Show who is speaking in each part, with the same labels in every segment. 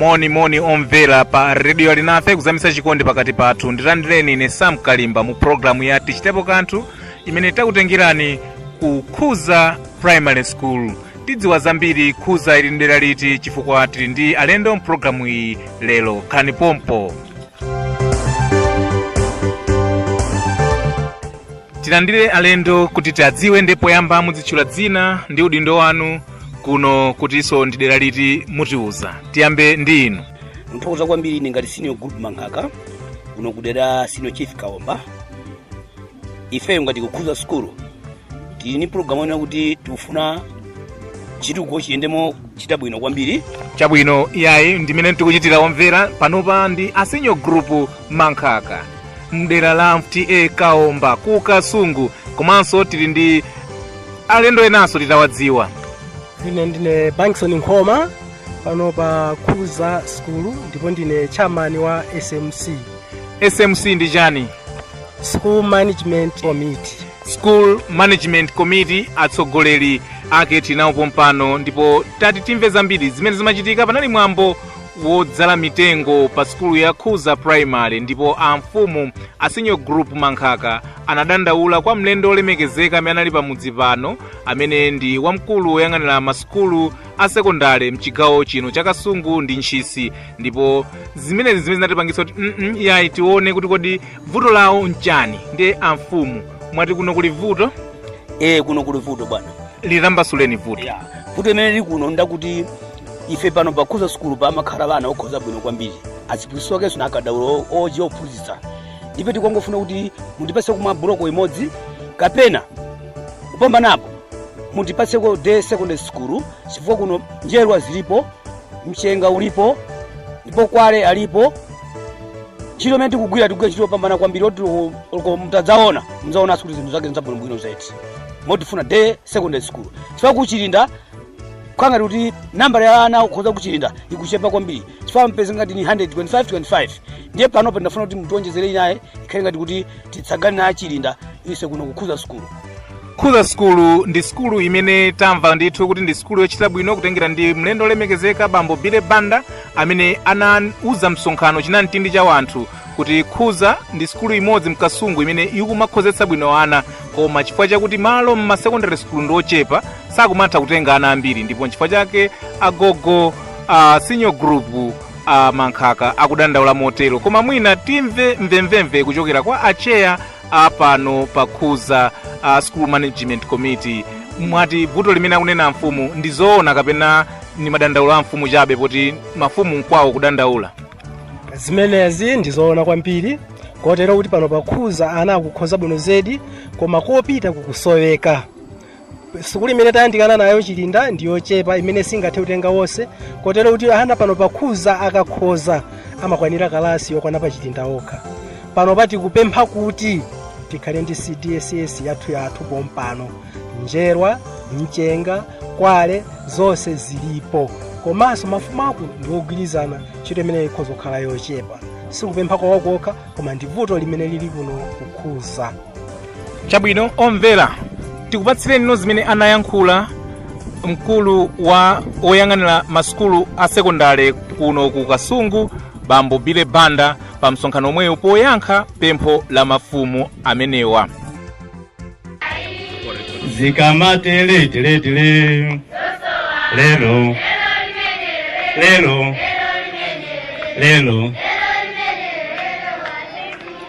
Speaker 1: moni moni omvera pa redio alinafe kuzamitsa chikondi pakati pathu ndilandireni ine sam kalimba mu programu ya tichitepo kanthu imene itakutengereni ku khuza primary school tidziwa zambiri khuza ili mdera liti chifukwa tili ndi alendo mpulogalamu iyi lero khalani pompo tilandire alendo kuti tiadziwe ndipo poyamba mudzitchula dzina ndi udindo wanu kuno kutinso ndi dera liti mutiuza tiyambe ndi inu nthokoza kwambiri
Speaker 2: ine ngati senior group mankhaka kuno kudera senior chief kaomba ifeyo ngati kukhuza sukulu tili ni pulogalamu yonena kuti tikufuna chitukuko chiyendemo chita bwino kwambiri chabwino iyayi
Speaker 1: ndi amene tikucheza omvera panopa ndi a senior group mankhaka mdera la ta kaomba ku kasungu komanso tili ndi alendo enanso titawadziwa ine
Speaker 3: ndine bankson nkhoma pano pa khuza sukulu ndipo ndine chairman wa smc smc
Speaker 1: ndi chani school
Speaker 3: management committee school
Speaker 1: management committee atsogoleri ake tinawo pompano ndipo tati timve zambiri zimene zimachitika panali mwambo wodzala mitengo pa sukulu ya khuza primary ndipo amfumu a senior group mankhaka anadandaula kwa mlendo olemekezeka amene anali pamudzi pano amene ndi wamkulu woyang'anira masukulu a sekondale mchigawo chino cha kasungu ndi ntchisi ndipo zimenezi nzimene zinatipangitsa kuti mm -mm, yayi tione kuti kodi vuto lawo nchani ndiye amfumu mwati kuno kuli vuto e kuno kuli
Speaker 2: vuto bwana litambasuleni
Speaker 1: vuto yeah. vuto imene lili kuno
Speaker 2: ndakuti ife pano pakhuza sukulu pamakhala bana okhoza bwino kwambiri aziphunzitsi okenso na akadaulo oji ophunzitsa ife tikongofuna kuti mutipase kumwa buloko imodzi kapena kupambanapo mutipaseko day secondary school chifukwa kuno njerwa zilipo mchenga ulipo ndipo kwale alipo ntchito imene tikugwira tikugwira ntchito yopambana kwambiri oti loko mutadzaona mudzaonanso kuti zinthu zake nzabwinobwino zedi motifuna day secondary school chifukwa kuchilinda khanga kuti nambala ya ana okhoza kuchilinda ikuchepa kwambiri chifukwa mpeze ngati ni 125 25 ndiye panopa ndafuna kuti mutionjezere inaye ikhale ngati kuti titsagane na achilinda ise kuno kukhuza sukulu khuza
Speaker 1: sukulu ndi sukulu imene tamva ndithu kuti ndi sukulu yochita bwino kutengera ndi mlendo olemekezeka bambo bile banda amene anauza msonkhano chinamtindi cha wanthu kuti khuza ndi sukulu imodzi mkasungu imene ikumakhozetsa bwino ana koma chifukwa chakuti malo mma secondary sukulu ndi ochepa sakumatha kutenga ana ambiri ndipo nchifukwa chake agogo a senior group a mankhaka akudandaula motero koma mwina timve mvemvemve kuchokera kwa acheya a pano pakhuza a school management committee mwati vuto limene akunena amfumu ndi zoona kapena ni madandaulo a mfumu chabe poti mafumu nkwawo kudandaula zimenezi
Speaker 3: ndizoona kwambiri kotero kuti pano pakhuza ana akukhoza bwino zedi koma kopita kukusoweka sukulu imene tayandikana nayo chilinda ndi yochepa imene singathe kutenga wonse kotero kuti ana pano pakhuza akakhoza amakwanira kalasi yokwana pa chilinda okha pano poti kupempha kuti tikhale ndi cdss yathu yathu pompano njerwa mchenga kwale zonse zilipo komanso mafumu ake ndi ogwirizana ntchito imene ikhoza kukhala yochepa sikupempha kwawokokha koma ndi vuto limene lili kuno kukhuza
Speaker 1: chabwino omvera tikupatsireninso zimene anayankhula mkulu wa oyang'anira masukulu a sekondale kuno ku kasungu bambo billy banda pa msonkhano omwewo poyankha pempho la mafumu
Speaker 4: amenewa zikamate leti leti le lelo lelo lelo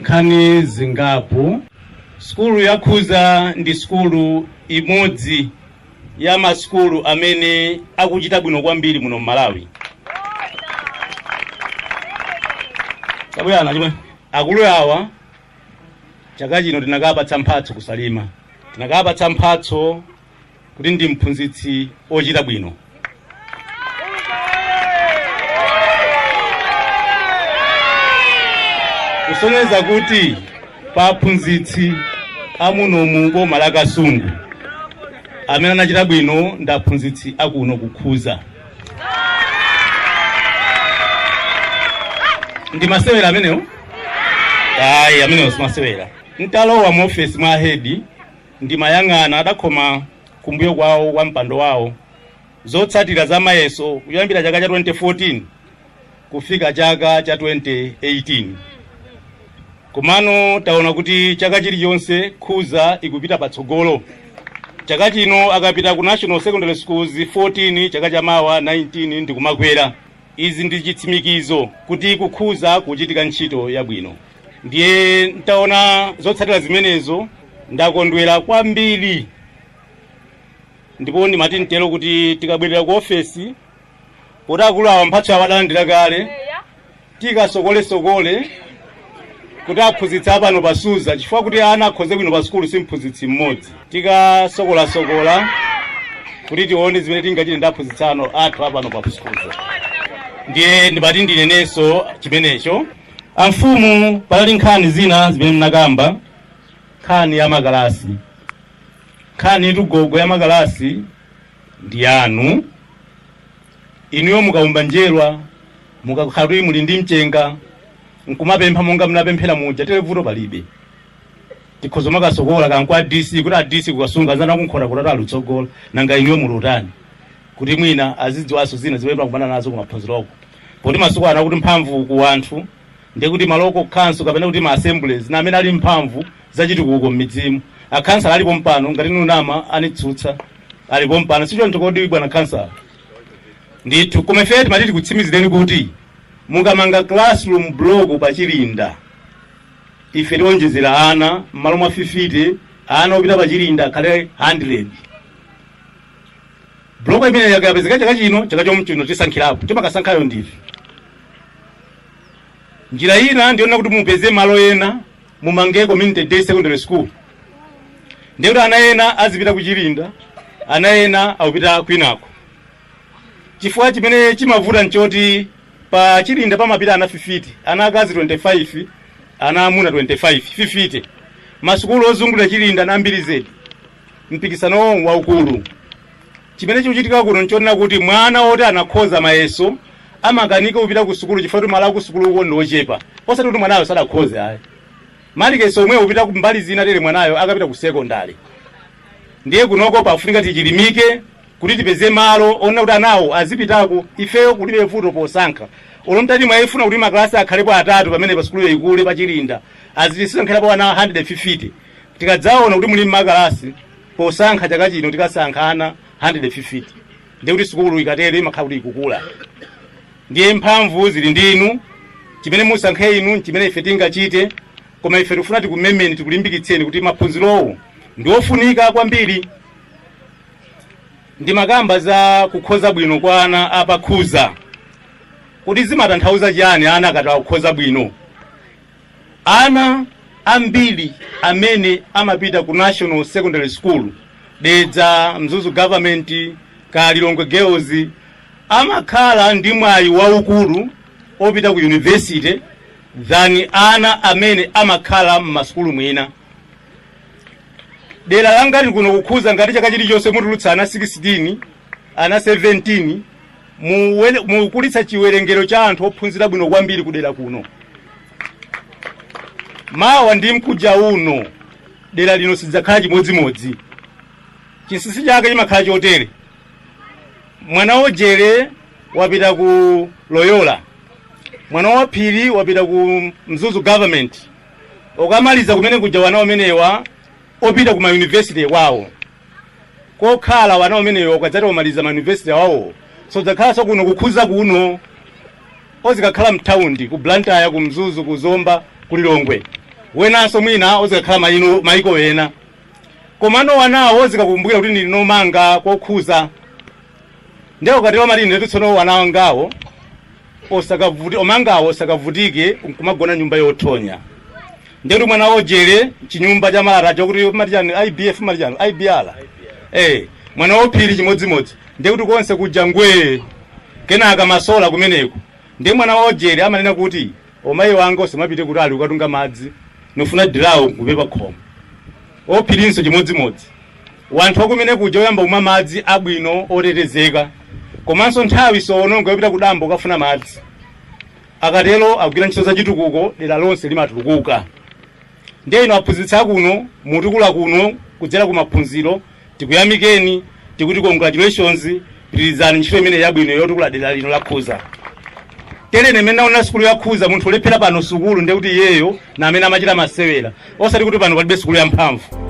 Speaker 4: nkhani zingapo sukulu ya khuza ndi sukulu imodzi ya masukulu amene akuchita bwino kwambiri muno m'malawi tabwerana chimwe akulu awa chaka chino tinakapatsa mphatso kusalima tinakapatsa mphatso kuti ndi mphunzitsi ochita bwino kusonyeza kuti pa aphunzitsi amuno m'boma la kasungu amene anachita bwino ndi aphunzitsi akuno kukhuza ndi masewera amenewo ayi amenewo simasewera ntalowa mu ofesi mwa ahedi Ndimayang'ana, adakhoma kumbuyo kwawo kwa mpando wawo, zotsatira za mayeso kuyambira chaka cha 2014 kufika chaka cha 2018. Komano taona kuti chaka chilichonse khuza ikupita patsogolo. Chaka chino akapita ku National Secondary Schools 14, chaka cha mawa 19 ndikumakwera. Izi ndi chitsimikizo kuti kukhuza kuchitika ntchito yabwino. ndiye ntaona zotsatira zimenezo ndakondwera kwambiri ndipo ndimati ntero kuti tikabwerera ku ofesi poti akulu awa mphatso yawo adalandira kale tikasokolesokole kuti aphunzitsi apano pa Suza chifukwa kuti ana akhoze bwino pa sukulu si mphunzitsi mmodzi tikasokolasokola kuti tione zimene tingachite ndi aphunzitsi anzathu apano pa Suza ndiye ndimati ndinenenso chimenecho Amfumu panali nkhani zina zimene mnakamba nkhani ya makalasi nkhani iyitu gogo ya makalasi ndi yanu inuyo mukaumba njerwa mukakhala kuti muli ndi mchenga nkumapempha monga mnapemphera muja tere vuto palibe tikhoza kumakasokolako kwa a dc kuti a dc ku kasungu anzanu kunkhota kota alutsogola nanga inuyo mulutani kuti mwina azidziwanso zina zimene tikukumana nazo kumaphunziroko poti masiku ano akuti mphamvu ku anthu ndiye kuti ma local council kapena kuti ma assemblies na amene ali mphamvu zachitukuko m'midzimu akhansala alipo mpano ngati nunama anitsutse alipo mpano si choncho kodi bwana khansala ndithu koma ife timati tikutsimizireni kuti mukamanga classroom block pa chilinda ife tionjezera ana m'malo mwa 50 ana opita pa chilinda akhale 100 Block imeneyo ikapezeka chaka chino, chaka chomwe chino tisankhirapo. Timakasankhayo ndife. Njira ina ndi yonena kuti mupeze malo ena mumange community day secondary school. Ndiye kuti ana ena azipita kuchilinda, ana ena akupita kwinako. Chifukwa chimene chimavuta nchoti pa chilinda pamapita ana 50, ana akazi 25, ana amuna 25, 50. Masukulu ozungulira chilinda na ambiri zedi. mpikisanowu waukulu chimene chikuchitika kuno nchonena kuti mwana woti anakhoza mayeso amakanika kupita ku sukulu chifukwa kuti malo akusukuluko ndi ochepa osati kuti mwanayo sadakhoze ayi malikesi omwewo kupita ku mbali zina tere mwanayo akapita ku sekondari ndiye kunoko pafunika tichilimike kuti tipeze malo onena kuti anawo azipitako ifeyo kulibe vuto posankha olo mtati mwafuna kuti makalasi akhalepo atatu pamenepa sukulu ikule pachilinda tizisankhirapo ana 150 tikadzaona kuti muli makalasi posankha chaka chino tikasankha ana 150 ndiye kuti sukulu ikatere imakhala kuti ikukula ndiye mphamvu zili ndi inu chimene musankhe inu nchimene ife tingachite koma ife tikufuna tikumemeni tikulimbikitseni kuti maphunzirowo ndi ofunika kwambiri ndimakamba za kukhoza bwino kwa ana apa Suza kuti zimatanthauza chiyani ana akati akukhoza bwino Ana ambiri amene amapita ku National Secondary School, Dedza, Mzuzu Government, kaya Lilongwe Girls, amakhala ndi mwayi waukulu opita ku university than ana amene amakhala m'masukulu mwina. Dera la ngati kuno ku Khuza ngati chaka chilichonse mutulutsa ana 16, ana 17, mukukulitsa chiwerengero cha anthu ophunzira bwino kwambiri kudera kuno. Mawa ndi mkuja uno dera lino sidzakhala chimodzimodzi. Chinsinsi chake chimakhala chotere, mwana wo Jere wapita ku Loyola, mwana wo Phiri wapita ku Mzuzu government, okamaliza kumene kuja wana omenewa opita ku mayunivesite kwawo kokhala wana omenewo ukadzati omaliza ma university awawo sodzakhalanso kuno ku khuza kuno ozikakhala mtaundi ku blantyre ku mzuzu ku zomba ku lilongwe wenanso mwina ozikakhala maino maiko ena komano wanawo ozikakumbukira kuti ndili nomanga ku khuza ndiye ukatero amati inetu tsono wana wangawo osakavuti omangawo osakavutike nkumagona nyumba yothonya ndekuti mwana wo jere chinyumba cha malata chokuti mati chani ibf mati chani ibr eh mwana wo phiri chimodzimodzi ndekuti konse kuja ngwee kenaka masola kumeneko ndiye mwana wo jere amanena kuti Omayi wanga osamapite kutali kukatunga madzi nufuna dilawo nkumbe pakhomo. O Phirinso chimodzimodzi. Wanthu wakumene kuja oyamba kumwa madzi abwino otetezeka. Komanso nthawi sowononga yopita kudambo kukafuna madzi. Akatero agwira ntchito zachitukuko dera lonse limatulukuka. ndiye inu aphunzitsi akuno mutukula kuno kudzera ku maphunziro tikuyamikeni tikuti congratulations pitirizani ntchito imene yabwino yotukula dera lino la khuza telene mmene naona sukulu ya khuza munthu olephera pano sukulu ndekuti iyeyo na amene amachita masewera osati kuti pano palibe sukulu ya mphamvu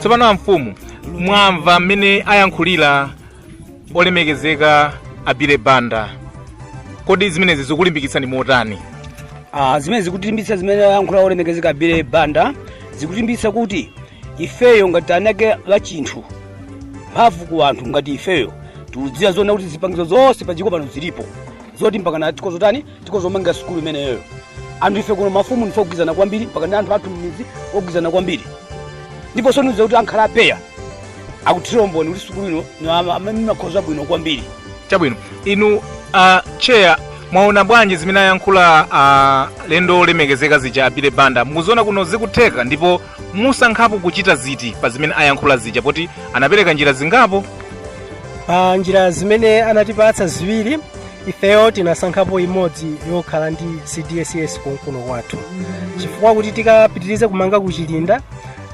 Speaker 5: tsopano amfumu
Speaker 1: mwamva mmene ayankhulira olemekezeka abile banda kodi zimenezi zikulimbikitsani motani Ah, zimene
Speaker 2: zikutilimbitsa zimene ayankhula olemekezeka abile banda zikutilimbitsa kuti ifeyo ngati anake a chinthu mphamvu ku anthu ngati ifeyo tikudziwa zona kuti zipangizo zonse padziko pano zilipo zoti mpakana tikhozo tani tikhozo omanga sukulu imeneyoyo anthu ife kuno mafumu ndife ogwizana kwambiri mpaka ndi anthu athu mmizi ogwizana kwambiri ndipo sonyeza kuti ankhale a PEA akuthira umboni kuti sukulu ino ni ama- amene imakhoza bwino kwambiri
Speaker 1: chabwino inu uh, tcheya mwaona bwanji zimene ayankhula alendo olemekezeka zija abile banda mukuziona kuno zikutheka ndipo musankhapo kuchita ziti pa zimene ayankhula zija poti anapereka njira zingapo pa
Speaker 3: njira zimene anatipatsa ziwiri ifeyo tinasankhapo imodzi yokhala ndi cdss konkuno kwathu chifukwa kuti tikapitirize kumanga kuchilinda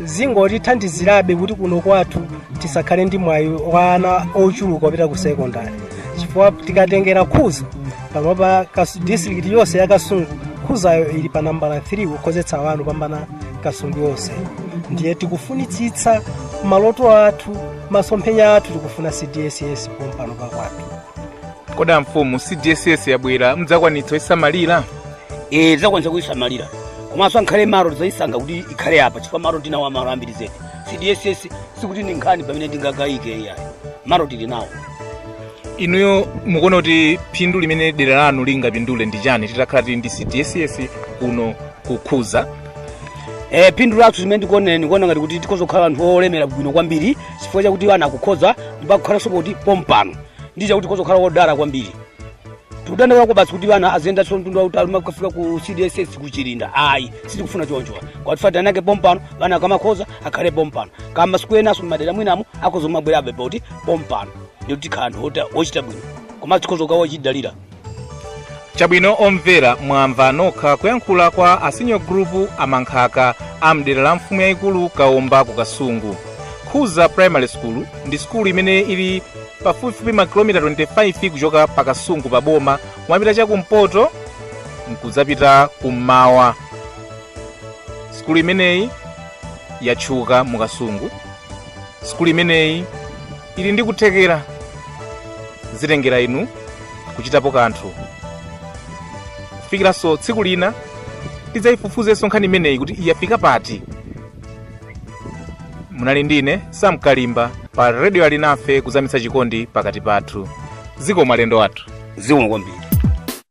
Speaker 3: zingotithandizirabe kuti kuno kwathu tisakhale ndi mwayi wa ana ochuluka opita ku sekondari chifukwa tikatengera khuza panopa kas- district yonse ya kasungu khuzayo ili pa nambala 3 kukhozetsa ana kupambana kasungu yonse ndiye tikufunitsitsa maloto athu masomphenya athu tikufuna cdss pompano pakwathu
Speaker 1: kodi amfumu cdss yabwera mudzakwanitsa kuisamalira e
Speaker 2: tidzakwanitsa kuyisamalira komanso ankhale malo tidzayisankha kuti ikhale apa chifukwa malo tinawo malo ambiri zedi cdss sikuti ndi nkhani imene tingakayike iyayi malo tili nawo
Speaker 1: inuyo mukuona kuti phindu limene dera lanu lingapindule ndi chani titakhala tili ndi cdss kuno kukhuza Eh,
Speaker 2: phindu lathu zimene ndikuonera ndikuona ngati kuti tikhoza kukhala anthu olemera bwino kwambiri chifukwa chakuti ana akukhoza ndipo akukhalanso poti pompano ndi chakuti tikhoza kukhala odala kwambiri tikudandaula kwabasi kuti ana aziyendanso mtunda wautali kumakafika ku cdss kuchilinda ayi sitikufuna choncho kwatifatira nake pompano ana akamakhoza akhale pompano komanso enanso mmadera mwinamo akhoza kumabwerabe poti pompano ndiye kuti tikhala anthu ota- ochita bwino komanso tikhoza kukhala
Speaker 1: odzidalira chabwino omvera mwamva nokha kuyankhula kwa asinyo gulupu amankhaka a mdera la mfumu yayikulu kaomba ku kasungu khuza primary school ndi sukulu imene ili pafupifupi makilomita 25 kuchoka pa kasungu pa boma kumapita chakumpoto nkudzapita kummawa sukulu imeneyi yatchuka mu kasungu sukulu imeneyi ili ndi kuthekera zitengera inu kuchitapo kanthu kufikiranso tsiku lina tidzayifufuzenso nkhani imeneyi kuti yafika pati munali ndine sam kalimba pa redio alinafe kuzamitsa chikondi pakati pathu zikomo alendo athu zikomo kwambiri